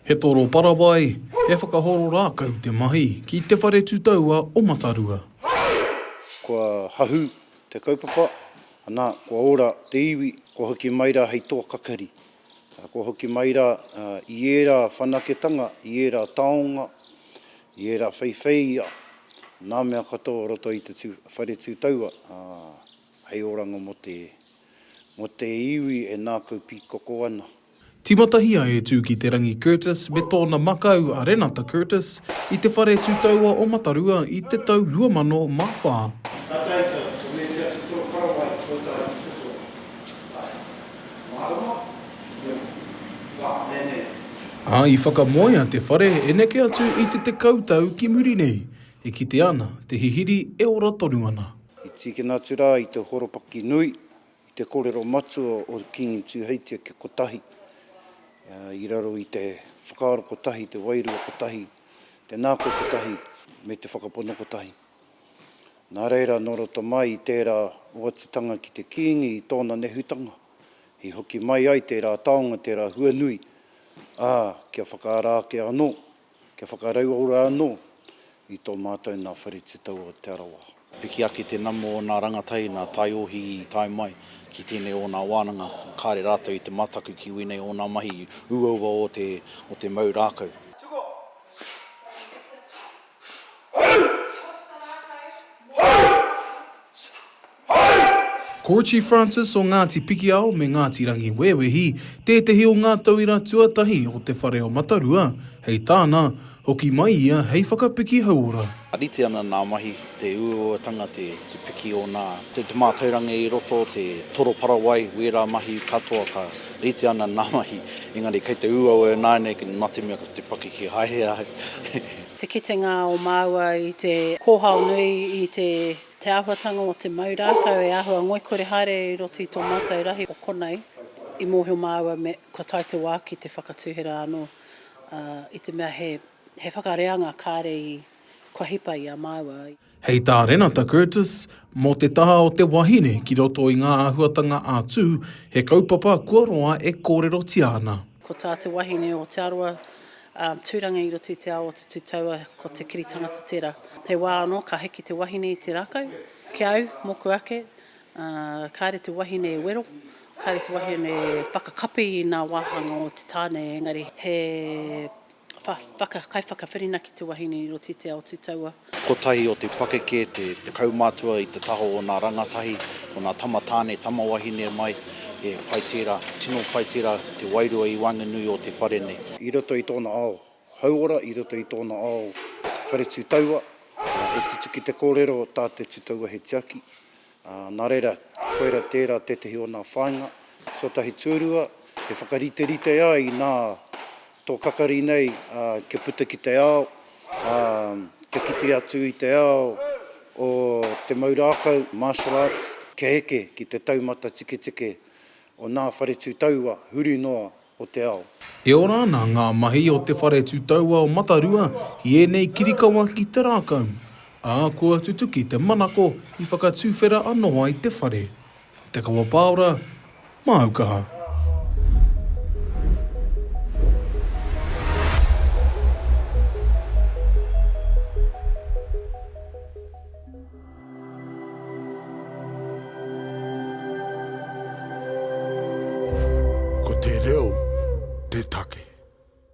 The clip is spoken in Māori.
He toro parawai, he whakahoro rākau te mahi ki Te Whare Tutaua o Matarua. Kua hahu te kaupapa, ana, kua ora te iwi, kua hoki mai rā hei toa kakari. Kua hoki mai rā i ērā whanaketanga, i ērā taonga, i ērā wheiwheia, nā mea katoa o roto i te Whare Tutaua hei oranga mō te. Mo te iwi e nākau pīkoko ana. Tīmatahia e Tūkiterangi Curtis me tōna makau a Renata Curtis i te whare tūtaua o Matarua i te tau 2004. Ka taetae ki te wēti atu tō Parawai ki tō tāu ki te toa. Ae. Mārama? Nō. Wā, nēnē. Ā, i whakamoea te whare e neke atu i te tekau tau ki muri nei. E kitea ana te hihiri e ora tonu ana. I tīkina atu rā i te horopaki nui, i te korero matua o Kingi Tūheitia kia kotahi, i raro i te whakaaro kotahi, te wairua kotahi, te nāko kotahi, me te whakapono kotahi. Nā reira, nō roto mai i tērā oatitanga ki te Kīngi i tōna nehutanga, i hoki mai ai tērā taonga, tērā huanui, ā, kia whakaara ake anō, Kia whakarauora anō i tō mātou nā Whare Tutau o Te Arawa. Piki ake te nama o nā rangatahi, nā Taiohi i tae mai ki tēnei o nā wānanga, kāre rātou i te mataku ki wēnei o nā mahi uaua o te o te mau rākau. Ko Chief Francis o Ngāti Pikiao me Ngāti Rangiwewehi tētehi o ngā tauira tuatahi o te whare o Matarua, hei tāna, hoki mai ia hei whakapiki hauora. Rite ana nā mahi, te uauatanga, te piki o nā, te mātauranga i roto, te toroparawai, wērā mahi katoa ka rite ana nā mahi, engari kei te uaua e nāianei mā te mea ko te pakeke haere ai. Te kitenga o māua i te kōhao nui i te Te āhuatanga o te mau rākau e āhua ngoikore haere i roto i tō mātou rahi o konei, i mōhio māua me kua tae te wā ki te whakatuhera anō, ā, i te mea he, he whakareanga kāre i, kua hipa i a māua. Hei tā Renata Curtis, Mō te taha o te wahine ki roto i ngā āhuatanga ā-tū, he kaupapa kua roa e kōrerotia ana. Ko tā te wahine o Te Arawa, Tūranga i roto i te ao o te tūtaua, ko te kiri tangata tērā. He wā anō ka hiki te wahine i te rākau. Ki a au, mōku ake, kāre te wahine e wero, kāre te wahine e whakakapi i ngā wāhanga o te tāne, engari he kaiwhakawhirinaki te wahine i roto i te ao tūtaua. Kotahi o te pakeke te kaumātua i te taha o nā rangatahi, ko nā tama tāne, tama wahine mai, he pai tērā, tino pai tērā te wairua i waenganui o te whare nei. I roto i tōna ao hauora, i roto i tōna ao whare tū taua, e tutuki te kōrero tā te tūtaua he tiaki, Ā, nā reira, koira tērā tētehi o nā whāinga tuatahi tūrua e whakariterite ai i nā tō kakari nei kia puta ki te ao, ā, kia kite atu i te ao o te mau rākau, martial arts, kia eke ki te taumata tiketike o nā whare tū taua huri noa o te ao. E ora ana ngā mahi o Te Whare Tutauao Matarua i ēnei kirikawa ki te rākau, ā, kua tutuki te manako i whakatuwhera anō ai te whare. Te Kawapāora, māu kaha. Ko te reo te take.